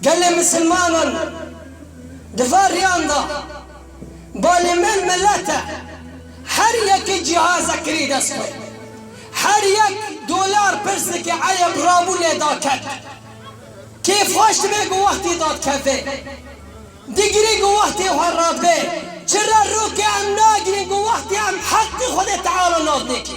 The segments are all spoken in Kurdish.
Gelê misilmanan di van riyan da balê me milet e. Her yekê cihazek kirî dest xwe. Her yek dolar pirs dike eyeb rabû lê da ket. Kêf xweş dibe ku wextê da dikeve. Digirê ku wextê xwe radibe. Çi re rokê em nagirên ku wextê em heqê xwedê teala nadinê kê.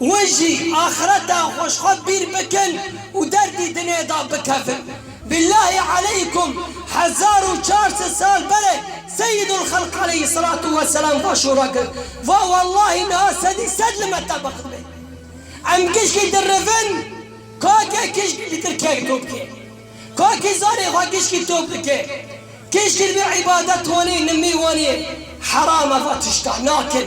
We jî axireta xwe ji xwe bîr bikin û derdî dinyayê da bikevin. Billahî aleykum hezar û çar sed sal bere Seyîdulxelq aleyhîsselatu weselam va şûra kir, va wellahî niha sedî sed li me tebax be. Em gişkî dirivin Kakê kişkî li Tirkiyeyê top ke. Kakî zanê xwe gişkî top dike. Kişkî bi îbadet wanê nimî wanê heram e va tişta nakin.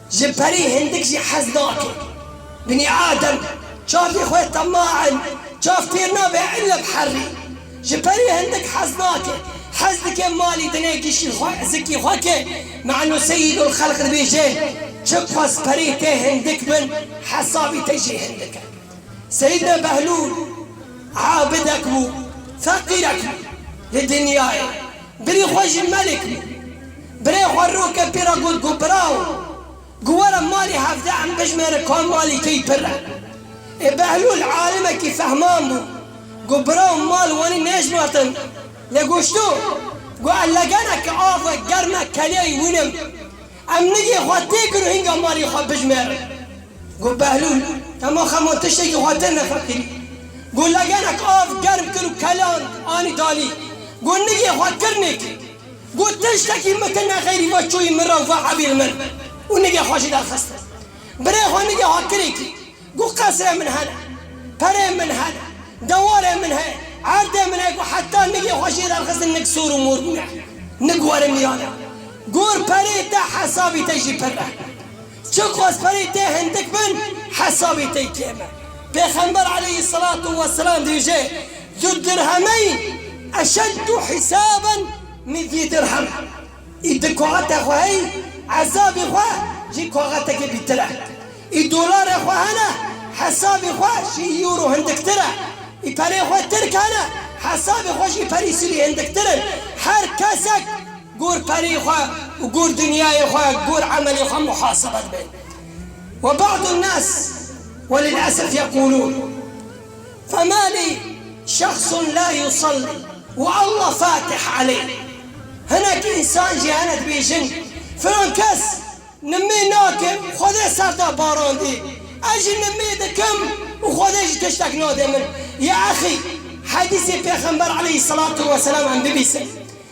Ji perî hindik jî hez nake. Binî Adem çavê xwe tema in, çav fêr nabe illa bi herrî. Ji perî hindik hez nake. Hez dike malî dine gişî xwe, zikî xwe ke Manu Seyîdulxelq dibêje, Çi qas perê te hindik bin, hesabî te jî hindik e. Seyîdna Behlûl abidek bû, feqîrek bû li dinyayê. Birî xwe jî melik bû. Birê xwe roke pê re got ku birawo, ku were malê hevdeh em bijimêrin ka malê key pir e. Ê Behlûl alimekî fehman bû ku birawo mal wanî nejmartin, lê goşto ku ez legeneke av wek germ e keleyê wîn im. Em nigê xwe tê kir û hînga malê xwe bijimêrin. Got Behlûl, Hema xema tiştekî xwe tên nefekirî. Got Legenek av germ kir û kelan anî dalî. Got Nigê xwe kir nêk. Got Tiştekî mike ne xeyrî ve çûyî min re û ve hebîl min û nigê xwe jî derxist. Birê xwe nigê xwe kirê kî. Got Qesrê min hene. Perê min hene. Dewarê min heye. Erdê min heye. Got Heta nigê xwe jê derxistin nik sor û mor bûne. Nik were mîran e. Got Perê te hesabî te jî pirre. Çi xwezperî tê hindik bin, hesabî tê kêm e. Pêxember aleyhî selatû weselam dibêje, Zu dirhemeyn eşeddû hîsaben min zî dirhem. Ê di koxete xwe hey, ezabê xwe ji koxetekê bîtir e. Ê dolarê xwe hene, hesabê xwe ji euro hindiktir e. Ê perê xwe tirk hene, hesabê xwe ji perî sûrî hindiktir in. Her kesek. Gor perî xwe û gor dinyayê xwe, gor emelê xwe muhasebe dibe. Ve ba'd en-nas welil'esef yeqûlûn, Fema lî şexsun la yusellî wa Allah fatih aleyh, hinek însan jî hene dibêjin, filan kes nimê nake û Xwedê ser da barandî, ez jî nimê dikim û Xwedê jî tiştek nade min. Ya exî, hedîsê pêxember aleyhîsselatu weselam em bibîsin.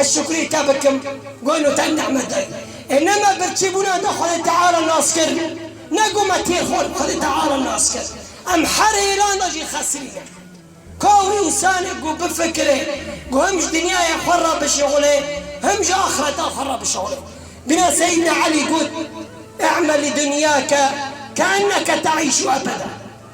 Ez şukrî te bikim gon û te nehmet dayî. Ê ne me birçîbûna de Xwedê Teala nas kir, ne ku me têr xwend Xwedê Teala nas kir. Em her hêlan de jî xesirî ne. Ka wî însanê ku bifikire ku him ji dinyaya xwe re bişixulê him ji axireta xwe re bişixulê. Bîne Seyîdna Elî got, Î'mel li dunyake ke'enneke te'îşû ebeda.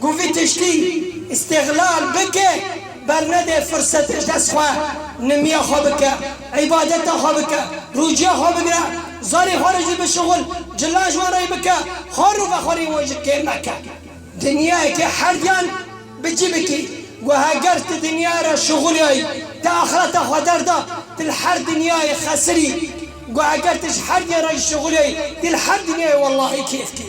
Ku vî tiştî îstîxlal bike bernede firsete ji dest xwe, nimiya xwe bike, îbadeta xwe bike, rûciya xwe bigire, zarê xwe re jî bişuxul, cila ji wan re yê bike, xwar û vexwarên wan jî kêm neke. Dinyayeke herdiyan bi cî bikî. Ku heger ti dinyayê re şuxuliyayî, ti axireta xwe derda, ti li her dinyayê xesirî. Ku heger ti ji herdiyan re jî şuxuliyayî, ti li her dinyayê wellahî kêfkî.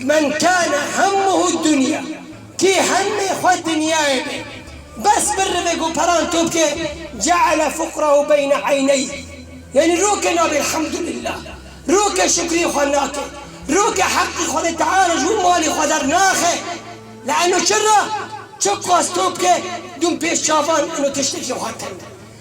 Men kâne hemmuhu dunya, kî hemê xwe dinyayê be bes birivek û peran top ke, ceale fukrahu beyne eyneyh, yanî ro ke nabê elhamdulillah, ro ke şukrî xwe nake, ro ke heqî Xwedê Teala ji bo malê xwe dernaxe, li eno çira, çi qas top ke dûm pêş çavan eno tiştekî xwe tend e.